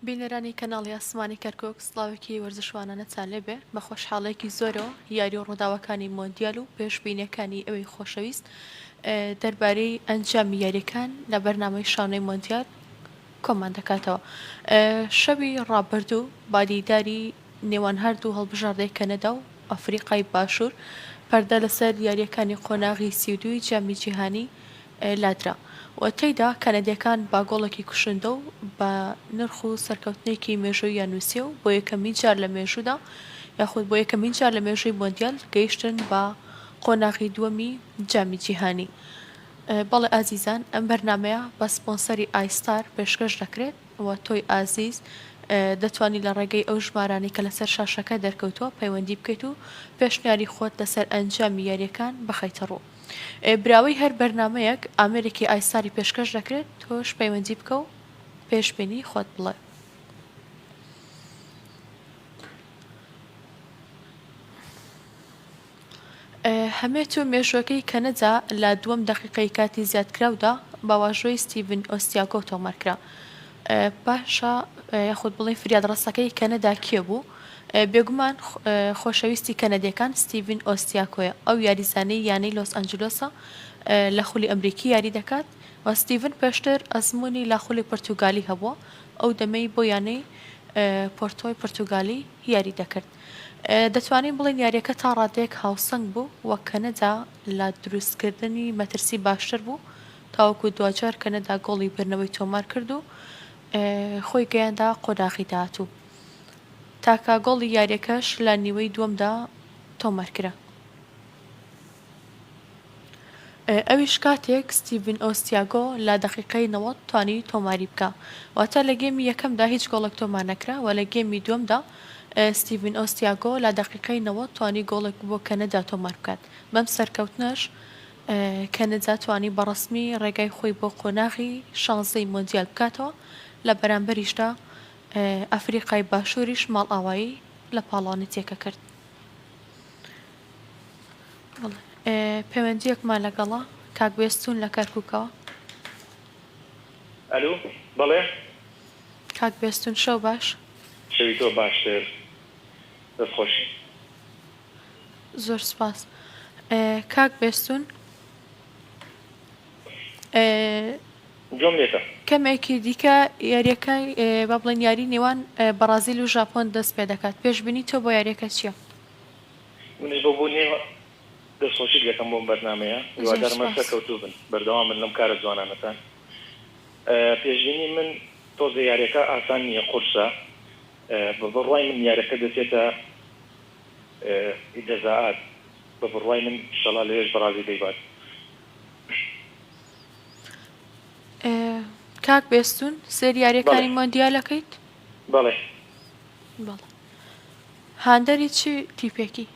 بینەرانی کەناڵی ئاسمانی کەرکوک سڵاوێکی وەرزشوانانەتان لێبێ بە خۆشحاڵێکی زۆرەوە یاری و ڕووداوەکانی مۆندیال و پێشبینیەکانی ئەوی خۆشەویست دەربارەی ئەنجامی یاریەکان لە بەرنامەی شانەی مۆندیال کۆمان دەکاتەوە شەوی ڕابردوو بادیداری نێوان هەردوو هەڵبژاردەی کەنەدا و ئەفریقای باشوور پەردە لەسەر یارییەکانی قۆناغی سی و دووی جامی جیهانی لادرا و تێیدا کەنەدییەکان با گۆڵێکی کوشندە و بە نرخ و سەرکەوتنێکی مێژووییان نووسییە و بۆ یەکەمین جار لە مێژوودا یاخود بۆ یەکەمین جار لە مێژووی مۆندیال گەیشتن بە قۆناغی دووەمی جامی جیهانی بەڵێ ئازیزان ئەم بەرنامەیە بە سپۆنسەری ئای ستار پێشکەش دەکرێت. و تۆی ئازیز دەتوانی لە ڕێگەی ئەو ژمارانەی کە لەسەر شاشەکە دەرکەوتووە پەیوەندی بکەیت و پێشنیاری خۆت لەسەر ئەنجامی یاریەکان بخەیتە ڕوو براوەی هەر بەرنامەیەک ئامێرێکی ئایستاری پێشکەش دەکرێت تۆش پەیوەندی بکە و پێشبینی خۆت بڵێ. هەمێت و مێژووەکەی کەنەدا لە دووەم دەقیقەی کاتی زیادکراودا بە واژۆی ستیڤن ئۆستیاگۆ تۆمارکرا. باشە یاخود بڵێین فریادڕەسەکەی کەنەدا کێ بوو؟ بێگومان خۆشەویستی کەنەدییەکان ستیڤن ئۆستیاکۆیە، ئەو یاریزانەی یانەی لۆس ئەنجلۆسە لە خولی ئەمریکی یاری دەکات و ستیڤن پێشتر ئەزموونی لە خولی پورتوگالی هەبووە، ئەو دەمەی بۆ یانەی پۆرتۆی پورتوگالی یاری دەکرد. دەتوانین بڵێین یارییەکە تا ڕادەیەک هاوسەنگ بوو و کەنەدا لە دروستکردنی مەترسی باشتر بوو تاوەکو دواجار کەنەدا گۆڵی بردنەوەی تۆمار کرد و خۆی گەیاندە قۆناغی داهاتوو. تاکە گۆڵی یارییەکەش لە نیوەی دووەمدا تۆمارکرا. ئەویش کاتێک ستیڤن ئۆ ستیاگۆ لە دەقیقەی نەوەد توانی تۆماری بکا واتە لە گێمی یەکەمدا هیچ گۆڵێک تۆمار نەکرا وە لە گێمی دووەمدا ستیڤن ئۆ ستیاگۆ لە دەقیقەی نەوەد توانی گۆڵێک بۆ کەنەدا تۆمار بکات بەم سەرکەوتنەش کەنەدا توانی بە ڕەسمی ڕێگای خۆی بۆ قۆناغی شانزەی مۆندیال بکاتەوە لە بەرامبەریشدا ئەفریقای باشووریش ماڵئاوایی لە پاڵەوانێتیەکە کرد. پەیوەندیەکمان لەگەڵە کاک بێستون لە کەرکوکەوە. ئەلو بەڵێ. کاک بێستون شەو باش. شەوی تۆ باشتر دەست خۆش. زۆر سوپاس کاک بێستون. گوێم لێتە. کەمێکی دیکە یاریەکە با بڵێن یاری نێوان بەڕازیل و ژاپۆن دەست پێدەکات پێشبینی تۆ بۆ یاریەکە چیە؟ منیش بۆ بۆ نیە دەست خۆشیت لێکەم بۆم بەرنامەیە هیوادارم هەر سەرکەوتوو بن بەردەوام بن لەم کارە جوانانەتان پێشبینی من تۆزێ یاریەکە ئاسان نیە قورسە بە بڕوای من یارەکە دەچێتە جەزائات بە بڕوای من شەڵا لەوێش بەڕازی دەیبات. کاک بێستون سێری یاریەکانی مۆندیالەکەیت؟ بەڵێ. هاندەری چ تیپێکی؟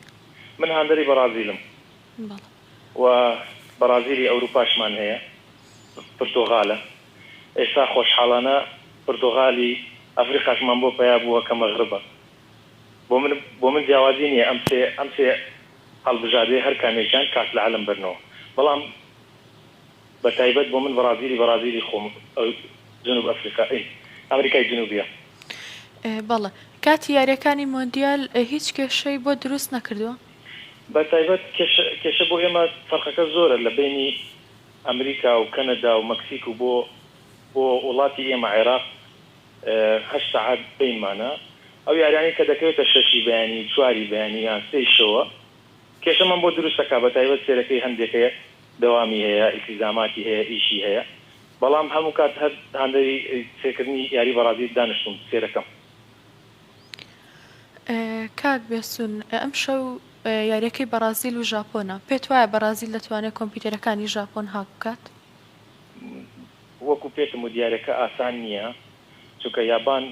من هاندەری بەڕازیلم و بەڕازیلی ئەوروپاشمان هەیە پرتوغالە ئێستا خۆشحاڵانە پرتوغالی ئەفریقاشمان بۆ پەیا بووە کە مەغربە بۆ من بۆ من جیاوازی نیە ئەم سێ ئەم سێ هەڵبژادەی هەر کامێکیان کاس لە عەلم بەرنەوە بەڵام بە تایبەت بۆ من بەڕازیلی بەڕازیلی خۆم جنوب ئەفریقا ئەی ئەمریکای جنوبیە. بەڵێ کاتی یاریەکانی مۆندیال هیچ کێشەی بۆ دروست نەکردووە؟ بە تایبەت کێشە کێشە بۆ ئێمە فەرقەکە زۆرە لە بەینی ئەمریکا و کەنەدا و مەکسیک و بۆ بۆ وڵاتی ئێمە عێراق هەشت سەعات بەینمانە ئەو یاریانەی کە دەکەوێتە شەشی بەیانی و چواری بەیانی یان سێی شەوە کێشەمان بۆ دروست دەکا بە تایبەت سێرەکەی هەندێکە دەوامی هەیە ئیلتیزاماتی هەیە ئیشی هەیە بەڵام هەموو کات هەر هاندەری سێکردنی یاری بەڕازیل دانشتووم سێرەکەم. کاک بێستون ئەمشەو یاریەکەی بەڕازیل و ژاپۆنە پێت وایە بەڕازیل دەتوانێت کۆمپیوتەرەکانی ژاپۆن هاک بکات؟ وەکو پێتم وت یارەکە ئاسان نیە چونکە یابان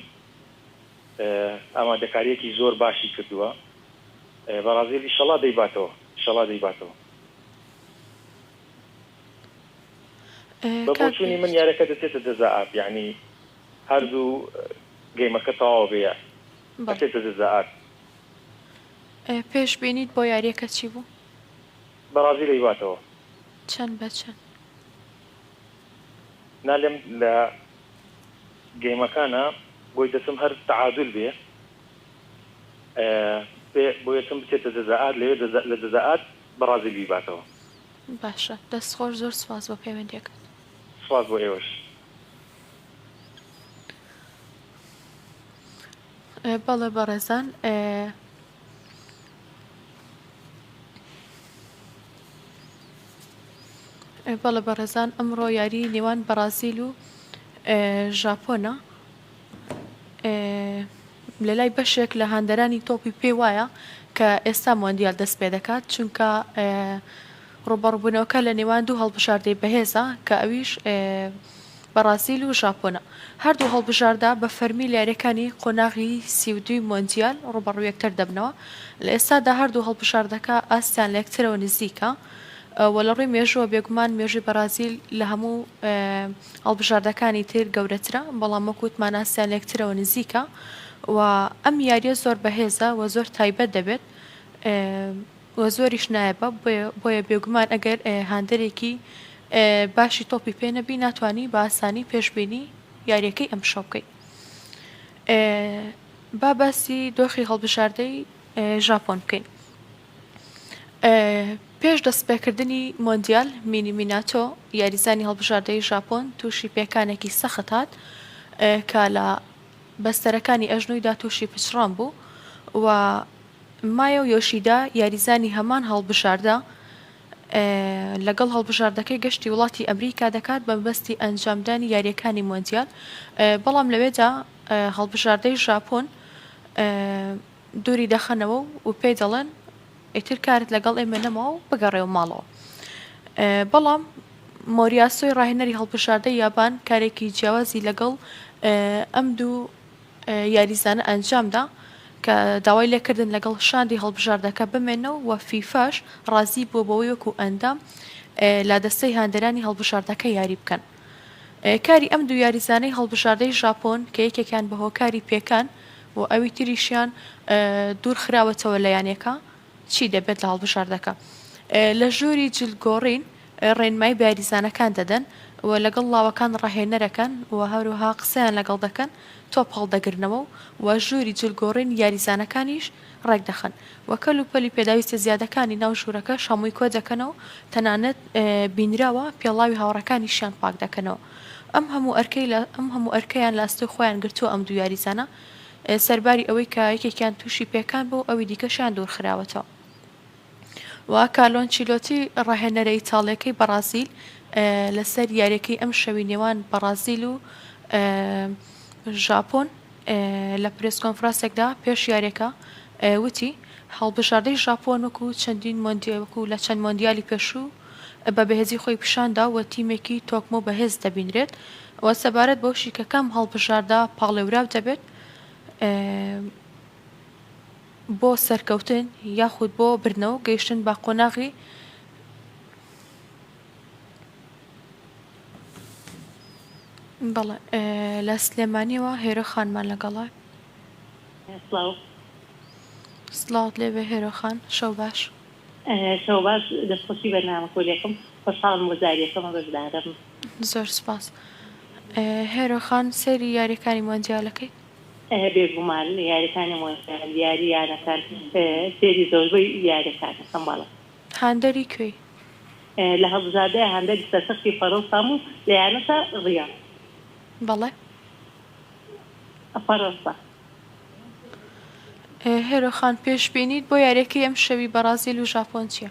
ئامادەکاریەکی زۆر باشی کردوە بەڕازیل ئیشەڵا دەیباتەوە ئیشەڵا دەیباتەوە. بە کاک بۆچوونی من بێهشت. یارەکە دەچێتە جەزا ئارت یانی هەر زوو گەیمەکە تەواو بێ بەڵێ ئەچێتە جەزا ئارت. پێش بینیت بۆ یاریەکە چی بوو؟ بەڕازی لەیباتەوە. چەند بە چەند؟ نالێم لە گەیمەکانا بۆی دەچم هەر تەعادول بێ ئەبێ بۆیەچم بچێتە جەزا ئارت لەوێ جەزا لە جەزا ئارت بەڕازیل بیباتەوە. باشە دەست خۆش زۆر سوپاس بۆ پەیوەندیەکەت. سوپاس بۆ ئێوەش. بەڵێ بەڕێزان بەڵێ بەڕێزان ئەمڕۆ یاری نێوان بەڕازیل و ژاپۆنە. لەلای بەشێک لە هاندەرانی تۆپی پێ وایە کە ئێستا مۆندیال دەستپێدەکات، چونکە ڕووبەڕووبوونەوەکە لە نێوان دوو هەڵبژاردەی بەهێزە کە ئەویش بەڕازیل و ژاپۆنە، هەردوو هەڵبژاردە بە فەرمی لە یارییەکانی قۆناغی سی و دووی مۆندیال ڕووبەڕووی یەکتر دەبنەوە، لە ئێستادا هەردوو هەڵبژاردەکە ئاستیان لە یەکترەوە نزیکە و لە ڕووی مێژووە بێگومان مێژووی بەڕازیل لە هەموو هەڵبژاردەکانی تر گەورەترە، بەڵام وەک وتمان ئاستیان لێکترەوە نزیکە و ئەم یاریە زۆر بەهێزە و زۆر تایبەت دەبێت و زۆریش نایەبە بۆیە بێگومان ئەگەر هاندەرێکی باشی تۆپی پێ نەبی ناتانی بە ئاسانی پێشببینی یاریەکەی ئەم شەو بکەیت با باسی دۆخی هەڵبژاردەی ژاپۆن بکەین پێش دەستپێکردنی مۆندیال، مینی میناتۆ، یاریزانی هەڵبژاردەی ژاپۆن تووشی پێکانێکی سەخت هات کە لە بەستەرەکانی ئەژنۆیدا تووشی پچڕان بوو و مایۆ یۆشیدا، یاریزانی هەمان هەڵبژاردە، لەگەڵ هەڵبژاردەکەی گەشتی وڵاتی ئەمریکا دەکات بە مەبەستی ئەنجامدانی یارییەکانی مۆندیال، بەڵام لەوێدا هەڵبژاردەی ژاپۆن دووری دەخەنەوە و پێی دەڵێن ئیتر کارت لەگەڵ ئێمە نەماوە و بگەڕێوە ماڵەوە. بەڵام مۆریاسۆی ڕاهێنەری هەڵبژاردەی یابان کارێکی جیاوازی لەگەڵ ئەم دوو یاریزانە ئەنجامدا کە داوای لێکردن لەگەڵ شاندی هەڵبژاردەکە بمێنەوە و فیفاش ڕازی بووە بەوەی وەکو ئەندام لادەستەی هاندەرانی هەڵبژاردەکە یاری بکەن. کاری ئەم دوو یاریزانەی هەڵبژاردەی ژاپۆن کە یەکێکیان بە هۆکاری پێکان و ئەوی تریشیان دوورخراوەتەوە لە یانەکە چی دەبێت لە هەڵبژاردەکە لە ژووری جلگۆڕین ڕێنمای بەیاریزانەکان دەدەن و لەگەڵ ڵاوەکان ڕاهێنەرەکەن و هەروها قسەیان لەگەڵ دەکەن تۆپ هەڵدەگرنەوە و ژووری جلگۆڕین یاریزانەکانیش ڕێکدەخەن و کەل و پەلی پێداویستە زیادەکانی ناو ژوورەکەش هەمووی کۆدەکەنەوە و تەنانەت بینراوە پێڵاوی هاوڕێکانیشیان پاکدەکەنەوە ئەم هەموو ئەرکەی ئەم هەموو ئەرکەیان لە ئەستۆی خۆیان گرتووە ئەم دوو یاریزانە سەرباری ئەوەی کە یەکێکیان تووشی پێکان بوو ئەوی دیکەشیان دوورخراوەتەوە. و کارلۆ ئەنچیلۆتی راهێنەرە ئیتاڵییەکەی بەڕازیل لەسەر یارییەکەی ئەمشەوی نێوان بەڕازیل و ژاپۆن لە پرێس کۆنفراسێکدا پێش یاریەکە وتی هەڵبژاردەی ژاپۆن وەکو چەندین مۆندی وەکو لە چەند مۆندیالی پێشوو بە بەهێزی خۆی پیشاندا و تیمێکی تۆکمە و بەهێز دەبینرێت و سەبارەت بەو شیکەکەم هەڵبژاردا پاڵێوراو دەبێت بۆ سەرکەوتن یاخود بۆ بردنەوەو گەیشتن بە قۆناغی بەڵێ لە سلێمانیەوە هێرۆ خانمان لەگەڵە. سڵاو. سڵاوت لێبێ هێرۆ خان شەو باش. شەو باش دەست خۆشی بەرنامە کۆلێکم خۆشحاڵم بۆ جاری یەکەمە بەشدارم. زۆر سوپاس هێرۆ خان سەیری یاریەکانی مۆندیالەکەی؟ بێگومان یاریەکانی مۆندیال یاری یانەکان فێری زۆربەی یاریەکان دەکەم بەڵام. هاندەری کوێی؟ لە هەڵبژاردەی هاندەری سەرتەختی فەرەنسام و لە یانەشە ڕیاڵ. بەڵێ. فەرەنسا. هێرۆ خان پێشبینیت بۆ یاریەکەی ئەمشەوی بەڕازیل و ژاپۆن چیە؟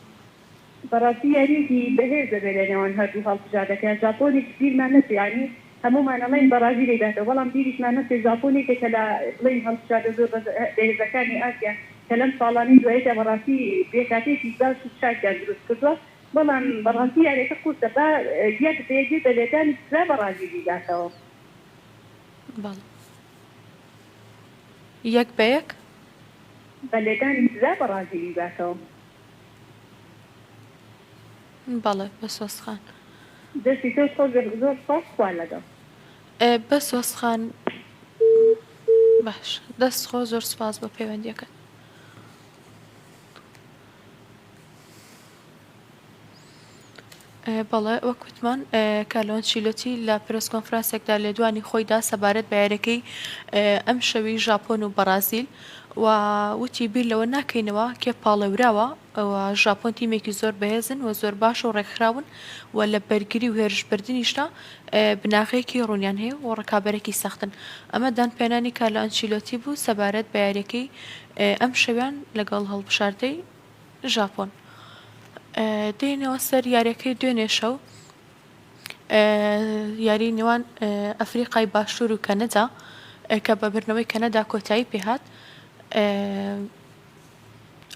بەڕاستی یاریەکی بەهێز دەبێت لە نێوان هەردوو هەڵبژاردەکە، ژاپۆنێکی بیرمان نەچێ یانی هەموومان ئەڵێین بەڕازیلی داتەوە بەڵام بیریشمان نەچێ ژاپۆن یەکێکە لە بڵێین هەڵبژاردە زۆر بەهێزەکانی ئاسیا کە لەم ساڵانەی دواییدا بەڕاستی پێکهاتەیەکی باش و چاکیان دروست کردووە بەڵام بەڕاستی یاریەکە قورسە با یەک بێ گوێ بە لێدانی سزا بەڕازیلی داتەوە. بەڵێ یەک بە یەک. بە لێدانی سزا بەڕازیلی داتەوە. بەڵێ بەسۆز خان. دەستی تۆش خۆش بێت زۆر سوپاس خوا لەگەڵ. بەسۆز خان باش دەست خۆ زۆر سوپاس بۆ پەیوەندیەکەت. بەڵێ وەک وتمان کارلۆ ئەنچیلۆتی لە پرێس کۆنفرانسێکدا لێدوانی خۆی دا سەبارەت بە یارییەکەی ئەمشەوی ژاپۆن و بەڕازیل و وتی بیر لەوە ناکەینەوە کێ پاڵێوراوە و ژاپۆن تیمێکی زۆر بەهێزن و زۆر باش و ڕێکخراون و لە بەرگری و هێرشبردنیشدا بناغەیەکی ڕوونیان هەیە و ڕکابەرێکی سەختن ئەمە دانپێنانی کارلۆ ئەنچیلۆتی بوو سەبارەت بە یارییەکەی ئەمشەویان لەگەڵ هەڵبژاردەی ژاپۆن دێنەوە سەر یاریەکەی دوێنێ شەو یاری نێوان ئەفریقای باشوور و کەنەدا کە بە بردنەوەی کەنەدا کۆتایی پێهات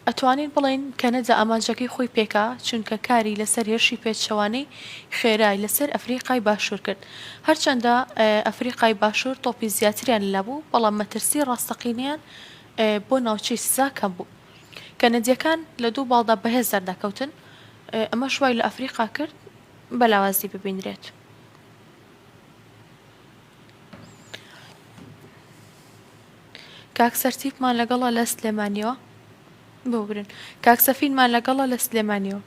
ئەتوانین بڵین کەنەدا ئامانجەکەی خۆی پێکا چونکە کاری لەسەر هێرشی پێچەوانەی خێرای لەسەر ئەفریقای باشوور کرد هەرچەندە ئەفریقای باشوور تۆپی زیاتریان لەبوو بەڵام مەترسی ڕاستەقینیان بۆ ناوچەی سزا کەم بوو. کەنەدیەکان لە دوو باڵدا بەهێز دەردەکەوتن، ئەمەش وای لە ئەفریقا کرد بە لاوازی ببینرێت. کاک سەرتیپمان لەگەڵە لە سلێمانیەوە. ببورن. کاک سەفینمان لەگەڵە لە سلێمانیەوە.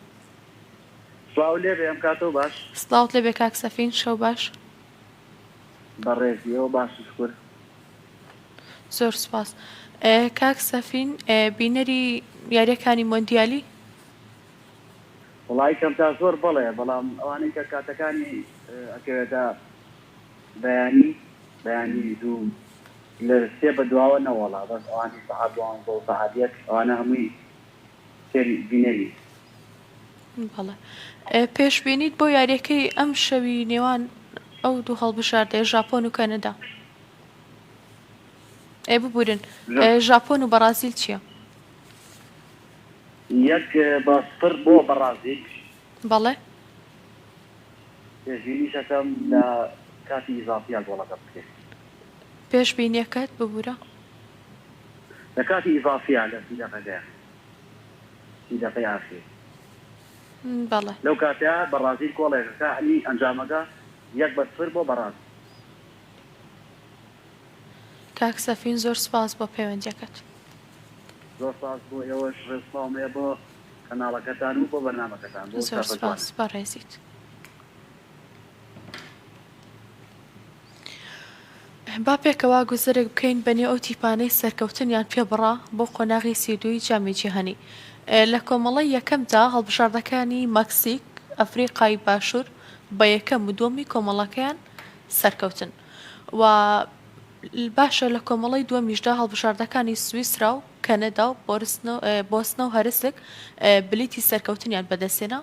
سڵاو لێبێ ئەم کاتەو باش. سڵاوت لێبێ کاک سەفین شەو باش. بەڕێزی ئێوە باش و شکور. زۆر سوپاس کاک سەفین بینەری یاریەکانی مۆندیالی؟ وەڵای کەم تا زۆر بەڵێ بەڵام ئەوانەی کە کاتەکانی ئەکەوێتە بەیانی بەیانی دوو لە سێ بەدواوە نەوەڵا بەس ئەوانەی سەعات دوانزەو سەعات یەک ئەوانە هەمووی تر بینەری. بەڵێ پێشبینیت بۆ یاریەکەی ئەم شەوی نێوان ئەو دوو هەڵبژاردەیە ژاپۆن و کەنەدا ئێ ببورن ژاپۆن و بەڕازیل چییە؟ یەک بە سپر بۆ بەڕازیل بەڵێ پێشبینیشەکەم لە کاتی ئیزافیا گۆڵەکە بکرێت پێشبینیەکەت ببوورە لە کاتی ئیزافیە لە سی دەقەکەیە سی دەقەی ئاخیر بەڵێ. لەو کاتە بەڕازیل کۆڵێکە کە ئی ئەنجامەکە یەک بە سفر بۆ بەڕاز. کاک سەفین زۆر سپاس بۆ پەیوەندیەکەت. زۆر سپاس بۆ ئێوەش ڕێز و سڵاوم هەیە بۆ کەناڵەکەتان و بۆ بەرنامەکەتان بۆ ئەو زۆر ستافە جوانە. سپاس بەڕێزیت. با پێکەوە گوزەرێک بکەین بەنێو ئەو تیپانەی سەرکەوتنیان پێ بڕا بۆ قۆناغی سی و دووی جامی جیهانی. لە کۆمەڵەی یەکەمدا هەڵبژاردەکانی مەکسیک، ئەفریقای باشوور بە یەکەم و دووەمی کۆمەڵەکەیان سەرکەوتن و باشە لە کۆمەڵەی دووەمیشدا هەڵبژاردەکانی سویسرا و کەنەدا و بۆسنە و هەرسک بلیتی سەرکەوتنیان بەدەستهێنا،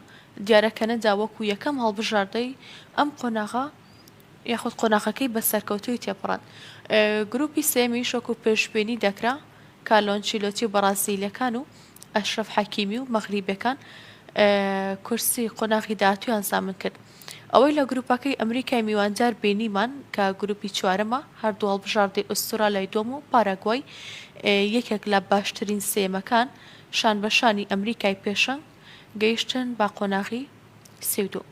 دیارە کەنەدا وەکو یەکەم هەڵبژاردەی ئەم قۆناغە، یاخود قۆناخەکەی بە سەرکەوتوویی تێپەڕاند. گرووپی سێیەمیش وەکو پێشبینی دەکرا کارلۆ ئەنچیلۆتی و بەڕازیلییەکان و ئەشرەف حەکیمی و مەغریبییەکان کورسی قۆناغی داهاتوویان زامن کرد. ئەوەی لە گرووپەکەی ئەمریکای میواندار بینیمان کە گرووپی چوارەمە، هەردوو هەڵبژاردەی ئوستورالیای دووەم و پاراگوای یەکێک لە باشترین سێیەمەکان شانبەشانی ئەمریکای پێشەنگ گەیشتن بە قۆناغی سی و دوو.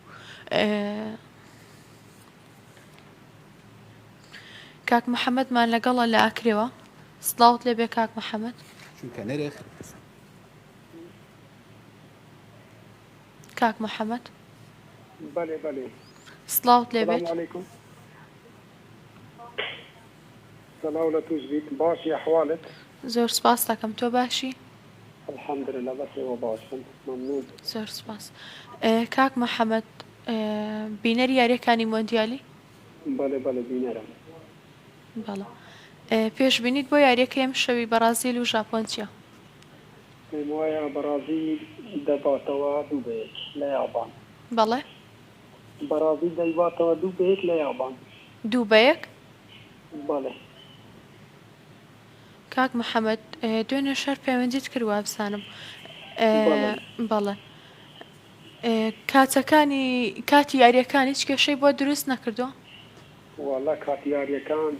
کاک محمد مان لەگەڵە لە ئاکرێوە سڵاوت لێ بێ کاک محمد چونکە نرخ کاک محمد بله بله سڵاوت لێ بێت سلااو لە توش بیت باشی ئەحوالت زۆر سپاس دەکەم تۆ باشی الحمدللە بەس ئێوە باشن مەمنون. زۆر سوپاس کاک محمد بینەری یاریەکانی مۆندیالی؟ بەلێ بەلێ بینەرم. بەڵێ پێشبینیت بۆ یاریەکەی ئەمشەوی بەڕازیل و ژاپۆن چیە؟ پێم وایە بەڕازیل دەباتەوە دوو بە یەک لە یابان. بەڵێ. بەڕازیل دەیباتەوە دوو بە یەک لە یابان. دوو بە یەک؟ بەڵێ. کاک محمد دوێنێ شەر پەیوەندیت کرد وابزانم بەڵێ کاتەکانی کاتی یاریەکان هیچ کێشەی بۆ دروست نەکردووە وەڵا کاتی یاریەکان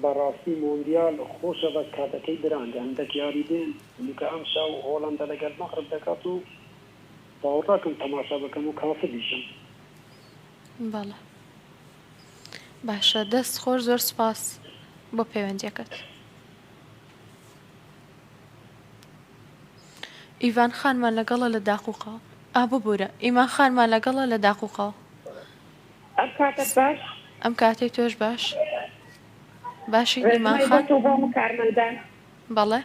بەڕاستی مۆندیال خۆشە بەس کاتەکەی درەنگە هەندەک یاری دێن چونکە ئەمشاو هۆڵەندە لەگەل مەغرب دەکات و باوەڕناکەم تەماشا بکەم و کاسبیشم. بەڵێ. باشە دەست خۆش زۆر سوپاس بۆ پەیوەندیەکەت. ئیڤان خانمان لەگەڵە لە داقوقەوە. ئا ببورە ئیمان خانمان لەگەڵە لە داقوقەوە. ئەم کاتەت باش؟ ئەم کاتەی تۆش باش. باشی ئیمان خان. ڕێزمای بۆ تۆ و هەموو کارمەندان. بەڵێ.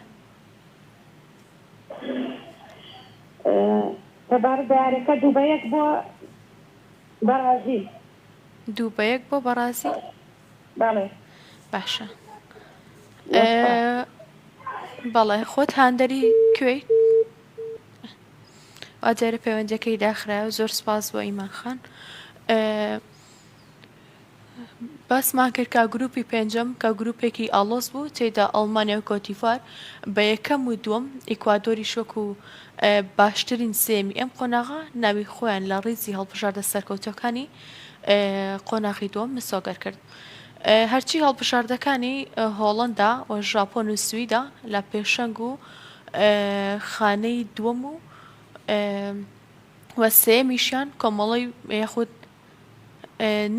تەبارک بە یارەکە دوو بە یەک بۆ بەڕازیل. دوو بە یەک بۆ بەڕازیل بەڵێ باشە بەڵێ خۆت هاندەری کوێی ئاجارە پەیوەندەکەی داخرا زۆر سپاس بۆ ئیمان خان باسمان کرد کا گروپی پێنجەم کە گروپێکی ئالۆس بوو تێدا ئەڵمانیا و کۆتیفار بە یەکەم و دووەم ئیکوادۆری شۆک و باشترین سێیەمی ئەم قۆناغە ناوی خۆیان لە ڕیزی هەڵبژاردە سەرکەوتووەکانی قۆناغی دووەم مسۆگەر کرد. هەرچی هەڵبژاردەکانی هۆڵەندا و ژاپۆن و سویدا لە پێشەنگ و خانەی دووەم و وە سێمیشیان کۆمەڵی یاخود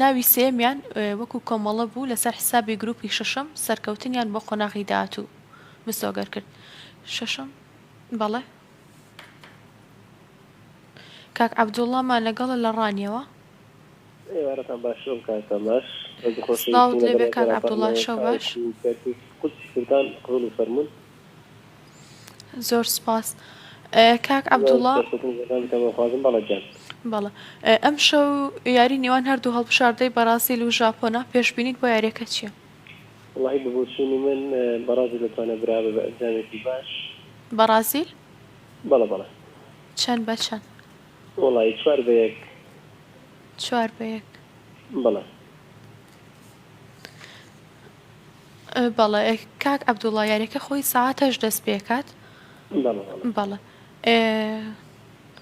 ناوی سێمیان وەکو کۆمەڵە بوو لەسەر حسابی گروپی شەشەم سەرکەوتنیان بۆ قۆناغی داهاتوو مسۆگەر کرد شەشەم بەڵێ کاک عەبدوڵڵا مان لەگەڵە لە ڕانیەوە. ئێوارەتان باش شەو کاکە باش دەست خۆش سڵاوت لێ بێ کاک عەبدوڵڵا شەو باش. قودسی کوردان قبوڵی فەرموون. زۆر سپاس کاک عەبدوڵڵا. خوازم بەڵێ گیان. بەڵێ ئەمشەو یاری نێوان هەردوو هەڵبژاردەی بەرازیل و ژاپۆنە پێشبینیت بۆ یاریەکە چییە؟ وەڵاهی بە بۆچوونی من بەڕازیل دەتوانێت برا بێت بە ئەنجامێکی باش. بەڕازیل؟ بەڵێ بەڵێ. چەند بە چەند؟ وەڵاهی چوار بە یەک. چوار بە یەک. بەڵێ. بەڵێ کاک عەبدوڵا یاریەکە خۆی سەعات هەشت دەست پێکات. بەڵێ بەڵێ. بەڵێ.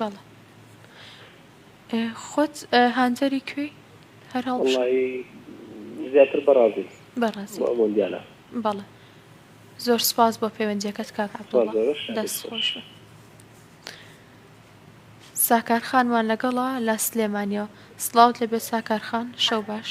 بەڵێ ئێ خۆت هانتەری کوێی هەر هەڵبژێ وەڵایی زیاتر بەڕازیل بەڕازیل بۆ مۆندیالا بەڵێ زۆر سپاس بۆ پەیوەندیەکەت کاک سپاس عەبدوڵڵا زۆرە شادی دەست خۆش خۆش بێت ساکار خانمان لەگەڵە لە سلێمانیەوە سڵاوت لێبێت ساکار خان شەو باش.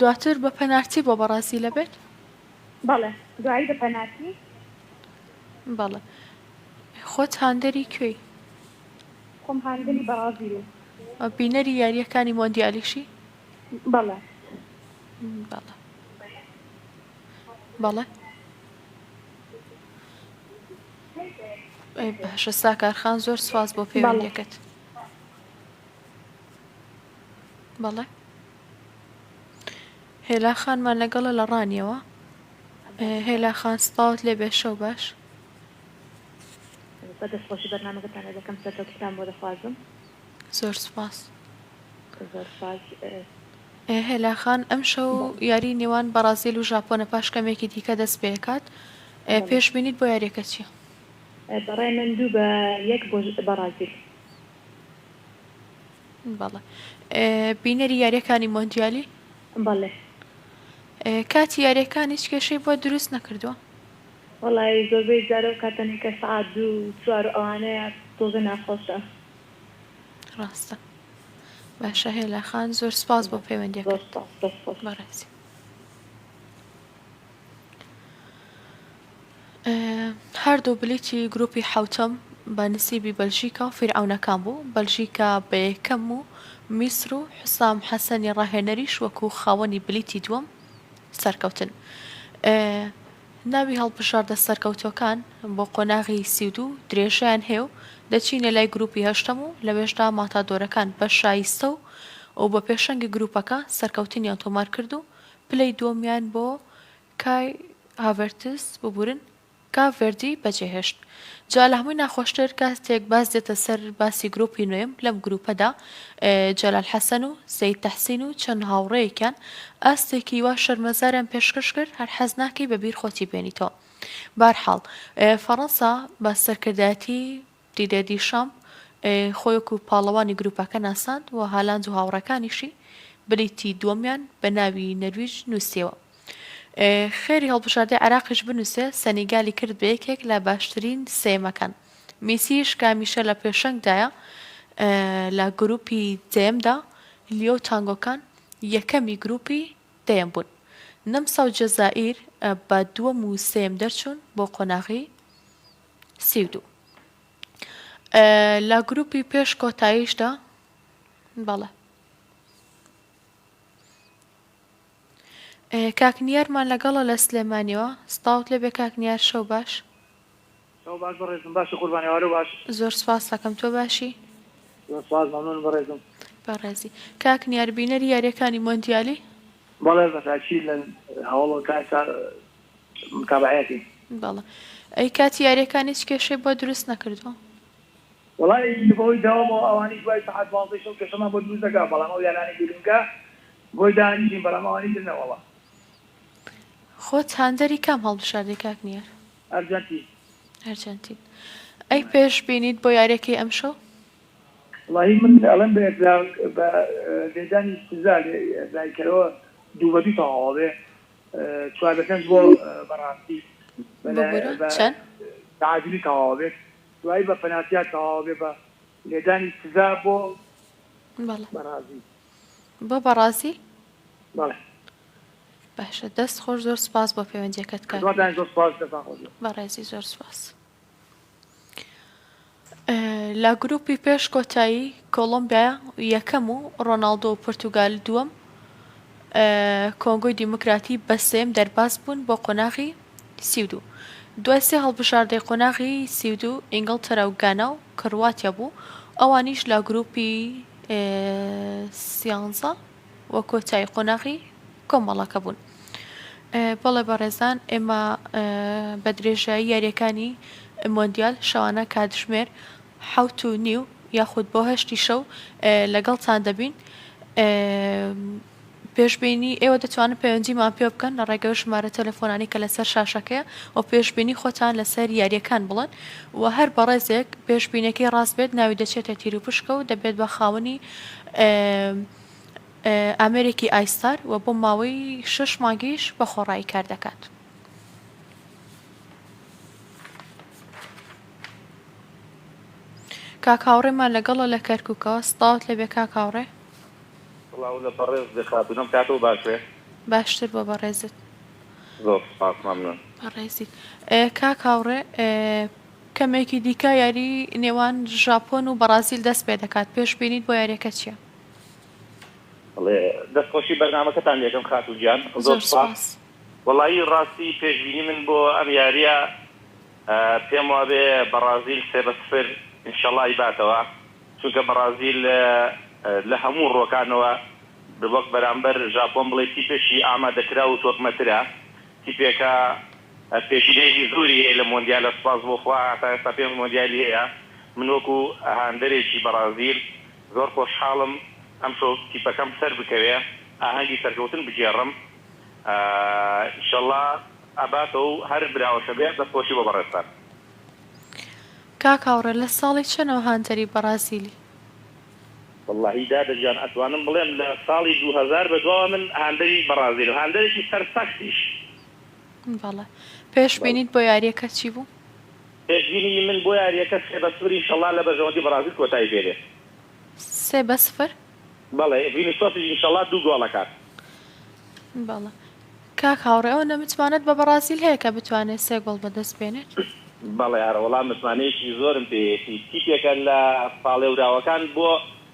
دواتر بە پەنارتی بۆ بەڕازیل ئەبێت؟ بەڵێ دوایی بە پەنارتی. بەڵێ خۆت هاندەری کوێی؟ خۆم هاندەری بەڕازیلم. بینەری یارییەکانی مۆندیالیشی؟ بەڵێ. بەڵێ. بەڵێ. باشە ساکار خان زۆر سوپاس بۆ پەیوەندیەکەت. بەڵێ هێلا خانمان لەگەڵە لە ڕانیەوە هێلا خان سپاوت لێ بێ شەو باش بە دەست خۆشی بەرنمەکەتان دەکەم سەرکەوتتان بۆ دەخوازم زۆر سپاس زۆر سپاس هێلاخان ئەم شەو یاری نێوان بەڕازیل و ژاپۆنە پاش کەمێکی دیکە دەست پێکات پێش بینیت بۆ یاریەکە چیە بەڕای من دوو بە یەک بەڕازیل بەڵێ بینەری یاریەکانی مۆندیالی بەڵێ کاتی یاریەکان هیچ کێشەی بۆ دروست نەکردووە وڵی زۆربەی جارە و کاتەنی کە سعات دوو چوار و ئەوانەیە تۆزە ناخۆشە ڕاستە باشە هێلاخان زۆر سپاس بۆ پەیوەندیەکە بەڕێزی هەردوو بلیتی گروپی حەوتەم بە نسیبی بەلژیکا و فیرعەونەکان بوو، بەلژیکا بە یەکەم و میسر و حسام حەسەنی راهێنەریش وەکو خاوەنی بلیتی دووەم سەرکەوتن. ناوی هەڵبژاردە سەرکەوتووەکان بۆ قۆناغی سی و دوو درێژەیان هەیە و دەچینە لای گروپی هەشتەم و لەوێشدا ماتادۆرەکان بە شایستە و بە پێشەنگی گروپەکە سەرکەوتنیان تۆمارکرد و پلەی دووەمیان بۆ کای هاڤێرتز ببورن کە ڤێردی بەجێهێشت. جا لە هەمووی ناخۆشتر کاتێک باس دێتە سەر باسی گروپی نۆیەم لەم گروپەدا جەلال حەسەن و سەید تەحسین و چەند هاوڕێیەکیان ئاستێکی وا شەرمەزاریان پێشکەش کرد هەر حەز ناکەی بە بیر خۆتی بێنیتەوە بارحاڵ فەڕەنسا بە سەرکردایەتی دیدێ دیشام خۆی وەکو پاڵەوانی گروپەکە ناساند و هالاند و هاوڕێکانیشی بلیتی دووەمیان بە ناوی نەرویج نوسیەوە. خێری هەڵبژاردەی عێراقیش بنوسێ سەنیگالی کرد بە یەکێک لە باشترین سێیەمەکان. میسیش کە هەمیشە لە پێشەنگدایە لە گروپی دەیەمدا، لیۆ و تانگۆکان یەکەمی گروپی دەیەم بوون. نەمسا و جەزائیر بە دووەم و سێیەم دەرچوون بۆ قۆناغی. سی و دوو. لە گروپی پێش کۆتاییشدا بەڵێ. کاک نیارمان لەگەڵە لە سلێمانیەوە سڵاوت لێبێ کاک نیار شەو باش. شەو باش بەڕێزم باشی قوربان ئێوارە باش. زۆر سپاستەکەم تۆ باشی؟ زۆر سپاس مەمنون بەڕێزم. بەڕێزی کاک نیار بینەری یاریەکانی مۆندیالی؟ بەڵێ بەتاکید لە هەوڵ کار تا متابعەتی بەڵێ ئەی کاتی یاریەکان هیچ کێشەی بۆ دروست نەکردووە؟ وەڵایی بەهۆی داوامەوە ئەوانیش دوای سەعات دوازدەی شەو کێشەمان بۆ دروست دەکا بەڵام ئەو یارانەی گرنگە بۆی دانیشین بەڵام ئەوانی تر نە وەڵا. خۆت هاندەری کام هەڵبژاردەی کاک نیار؟ ئەرجەنتین. ئەرجەنتین ئەی پێش بینیت بۆ یاریەکەی ئەمشەو؟ وەڵایی من ئەڵێم بە یەکلا بە لێدانی سزا لێ دایکەرەوە دوو بە دوو تەواو ئەبێ چوار لە پێنج بۆ بەڕاستی ببورە چەن؟ بەعادلی تەواوە بێت دوایی بە پەناسیار تەواوە بێ بە لێدانی سزا بۆ بەڵێ بەڕازی بۆ بەڕازی بەڵێ باشە دەست خۆش زۆر سپاس بۆ پەیوەندیەکەت کاک نوێر بەڕێزی زۆر سپاس. لە گروپی پێش کۆتایی کۆڵۆمبیا یەکەم و ڕۆناڵدۆ و پورتوگال دووەم کۆنگۆی دیموکراتی بە سێم دەرباز بوون بۆ قۆناغی سی و دوو دوای سێ هەڵبژاردەی قۆناغی سی و دوو ئینگڵتەرا و گانا و کرواتیا بوو ئەوانیش لە گروپی سیانزە و کۆتایی قۆناغی کۆمەڵەکە بوون. بەڵێ بەڕێزان ئێمە بە درێژایی یاریەکانی مۆندیال شەوانە کاتژمێر حوت و نیو یاخود بۆ هەشتی شەو لەگەڵتان دەبین پێشببینی ئێوە دەتوانن پەیوەندیمان پێ بکەن لە ڕێگەی ژمارە تەلەفۆنانی کە لەسەر شاشەکەیە و پێشببینی خۆتان لەسەر یاریەکان بڵن و هەر بەڕێزێک پێشببینەکەی ڕاست بێت ناوی دەچێتە تیروپشکە و دەبێت بە خاوەنی ئامێرێکی ئایستار و بۆ ماوەی شەش مانگیش بە خۆڕایی کار دەکات. کاک هاوڕێمان لەگەڵە لە کەرکوکەوە سڵاوت لێبێ کاک هاوڕێ. سڵاو لە بەڕێز بێ خاتون ئەم کاتەوە باش بێ. باشتر بۆ بەڕێزت. زۆر سوپاس مەمنون. بەڕێزیت کاک هاوڕێ کەمێکی دیکە یاری نێوان ژاپۆن و بەڕازیل دەست پێ دەکات، پێشبینیت بۆ یاریەکە چیە؟ بەڵێ دەست خۆشی بەرنامەکەتان لێ ئەکەم خاتوو گیان زۆر سوپاس. وەڵایی ڕاستی پێشبینی من بۆ ئەم یاریە پێم وابێ بەڕازیل سێ بە سفر ان شاء اللە ئەیباتەوە چونکە بەڕازیل لە هەموو ڕوەکانەوە وەک بەرامبەر ژاپۆن بڵێی تیپێکی ئامادەکراو و تۆکمەترە تیپێکە پێشینەیەکی زۆری هەیە لە مۆندیالە سوپاس بۆ خوا تا ئێستا پێنج مۆندیالی هەیە من وەکو هاندەرێکی بەڕازیل زۆر خۆشحاڵم ئەمشۆ تیپەکەم سەربکەوێ ئاهەنگی سەرکەوتن بگێڕم ئیشەڵا ئەباتەوەو هەر براوەشە بێ دەست خۆشی بۆ بەڕێزتان. کاک هاوڕێ لە ساڵی چەنەوە هاندەری بەڕازیلی؟ وەڵاهی دادە گیان ئەتوانم بڵێم لە ساڵی دوو هەزار بەدواوە من هاندەری بەڕازیلم هاندەرێکی سەرسەختیش بەڵێ پێش بینیت بۆ یاریەکە چی بوو؟ پێش بینینی من بۆ یاریەکە سێ بە سفر ئینشەڵا لە بەرژەوەندی بەڕازیل کۆتایی پێ دێت. سێ بە سفر؟ بەڵێ ڤینیسۆسیش ئینشەڵا دوو گۆڵ ئەکات. بەڵێ کاک هاوڕێ ئەوەندە متمانەت بە بەڕازیل هەیە کە بتوانێت سێ گۆڵ بەدەست بێنێت؟ بەڵێ ئەرەوەڵا متمانەیەکی زۆرم پێیەتی تیپێکە لە پاڵێوراوەکان بۆ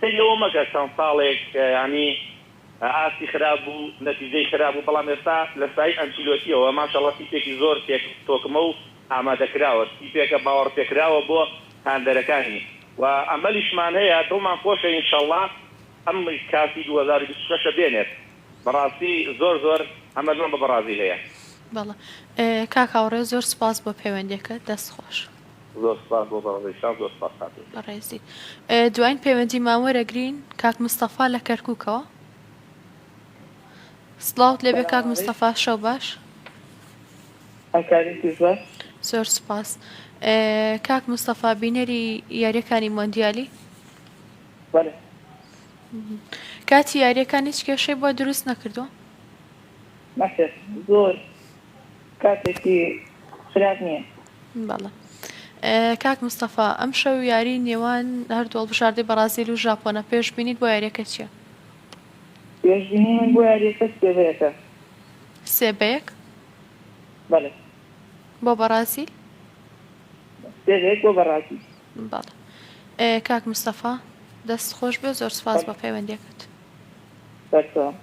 سەیری ئەوە مەکە چەند ساڵێک یانی ئاستی خراپ بوو نەتیجەی خراپ بوو بەڵام ئێستا لە سایی ئەنچیلۆتیەوە ماشااللە تیپێکی زۆر تێک تۆکمە و ئامادەکراوە تیپێکە باوەڕ پێکراوە بۆ هاندەرەکانی و ئەمەلیشمان هەیە دڵمان خۆشە انشاللە ئەم کاسی دوو هەزار و بیست و شەش ە بێنێت بەڕاستی زۆر زۆر ئەمەلمان بە بەڕازیل هەیە. بەڵێ کاک هاوڕێ زۆر سوپاس بۆ پەیوەندیەکەت دەست خۆش. زۆر سوپاس بۆ بەڕێزی شاز زۆر سوپاس کاتی. بەڕێزی دواین پەیوەندیمان وەرەگرین کاک مستەفا لە کەرکوکەوە. سڵاوت لێبێ کاک مستەفا شەو باش. زۆر سوپاس کاک مستەفا بینەری یاریەکانی مۆندیالی کاتی یاریەکان هیچ کێشەی بۆ دروست نەکردووە زۆر کاتێکی خراپ نیە. بەڵێ کاک مستەفا ئەمشەو یاری نێوان هەردوو هەڵبژاردەی بەڕازیل و ژاپۆنە پێشبینیت بۆ یاریەکە چیە؟ پێشبینی من بۆ یاریەکە سێ بە یەکە. سێ بە یەک؟ بەڵێ. بۆ بەڕازیل؟ سێ بە یەک بۆ بەڕازیل. بەڵێ. کاک مستەفا دەست خۆش بێ زۆر سپاس بە پەیوەندیەکەت. بەردەوام.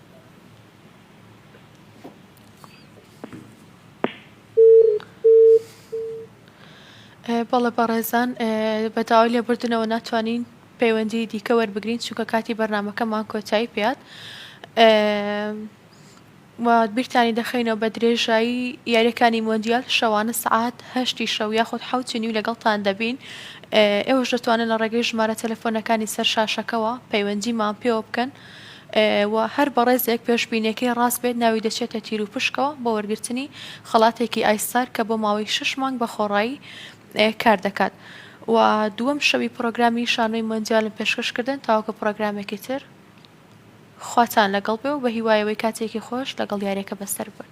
بەڵێ بەڕێزان بە داوای لێبوردنەوە ناتوانین پەیوەندی دیکە وەربگرین چونکە کاتی بەرنمەکەمان کۆتایی پێات بیرتانی دەخینەوە بە درێژایی یاریەکانی مۆندیال شەوانە سعات هەشتی شەو یاخود حوتی نیو لەگەڵتان دەبین ئێوەش دەتوانن لە ڕێگەی ژمارە تەلەفۆنەکانی سەر شاشەکەەوە پەیوەندیمان پێوە بکەن. و هەر بەڕێزێک پێشبینیەکەی ڕاست بێت ناوی دەچێتە تیروپشکەوە بۆ وەرگرتنی خەڵاتێکی ئایسار کە بۆ ماوەی شەش مانگ بە خۆڕایی کار دەکات و دووەم شەوی پڕۆگرامی شانۆی مۆندیالم پێشکەش کردن تاوەکو پڕۆگرامێکی تر خواتان لەگەڵ بێ و بەهیوایەوەی کاتێکی خۆش لەگەڵ یاریەکە بەسەر ببەن.